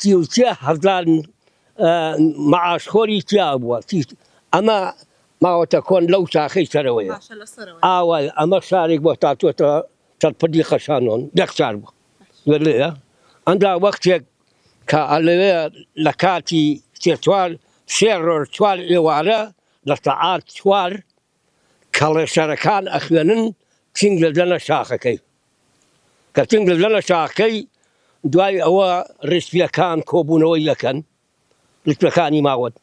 سی و سێ هەزار مەعاشخۆری تیا بووە ئەمە ماوەتە کۆن لەو شاخەی سەرەوەیە ئاوای ئەمە شارێک بۆ تاتوەتە چەپدی خەشانۆن یەک شار بوو وێلەیە ئەندا وەختێک کە ئەلەوێ لە کاتی سێ چوار سێ ڕۆژ چوار ئێوارە لە سەعات چوار کەڵێشەرەکان ئەخوێنن چنگ دەدەنە شاخەکەی کە چنگ دەدەنە شاخەکەی دوای ئەوە ڕێسپیەکان کۆبوونەوەی یەکەن ڕیسپەکانی ماوەت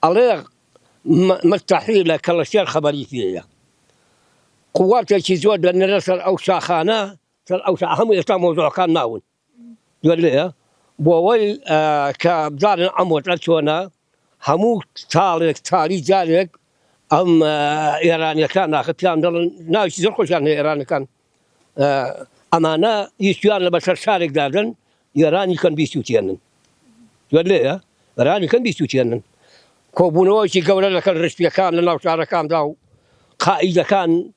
ئەڵێ مستحی لە کەڵەشێر خەبەری پێەیە قوواتێکی زۆر دەنرە سەر ئەو شاخانە سەر ئەو هەموو ئێستا مۆزۆەکان ناون دولێ بۆوەی کە بزانن ئەم وەزعە چۆنە هەموو تاڵێک تالی جارێک ئەم ئێرانیەکان ناخە پیان دەڵن ناوی زۆر خۆشیان هەیە ئێرانەکان ئەمانە یشتیان لە بەسەر شارێک دادن یێرانی کەن بیسووتێنن دولێە رانی کەن بیسووتێنن کۆبوونەوەی گەورە لەکەن ڕشتیەکان لە ناو شارەکاندا و قائیدەکان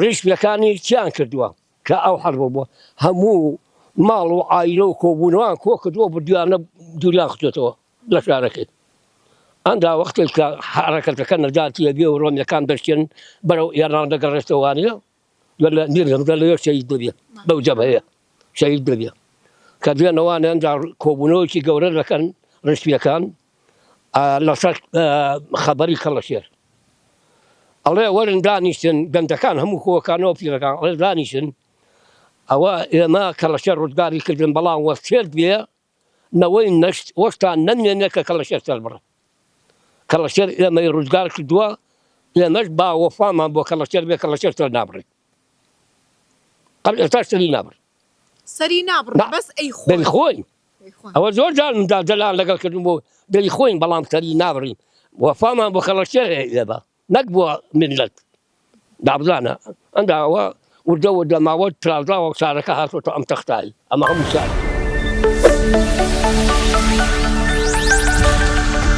ڕیش لەکانی چیان کردوە کە ئەو حەربە بوە هەموو ماڵ و عایلە و کۆبونەوان کۆ کردوە بردویانە دوریان خستۆتەوە لە شارەکەی ئەندا وەختێک کە حەرەکەتەکە نەجاتی یەبێ و ڕۆمیەکان دەشتێن بەرەو ئێران دەگەڕێتەوە وانە لە میر هەمزە لەوێ شەهید دەبێ بەو جەبهەیە شەهید دەبێ کە دوێنەوانە ئەندا کۆبونەوەیەکی گەورە دەکەن ڕشتیەکان لەسەر خەبەری کەڵەشێر ئەڵێ وەرن دانیشتن گەنجەکان هەموو کۆکانەوە پیرەکان ئەڵێ دانیشن ئەوە ئێمە کەڵەشێر ڕزگاری کردن بەڵام وەسێت بێ نەوەی نەشت وەشتان نەمێنێ کە کەڵەشێر سەر بڕن کەڵەشێر ئێمەی ڕزگار کردووە ئێمەش با وەفامان بۆ کەڵەشێر بێ کەڵەشێر سەر نابڕین قەت ئێستاش سەری نابڕی. سەری نابڕی بەس ئەیخۆین. ئەوە زۆر جار مندا دەلان لەگەڵ کردن بۆ دەیخۆین بەڵام سەری نابڕین وەفامان بۆ خەڵەکێ لەبە نەک بووە ملت دابزانە ئەندا ئەوە وردە وردە ماوە ترازاوە شارەکە هاتۆتە ئەم تەختایی ئەمە هەموو شار.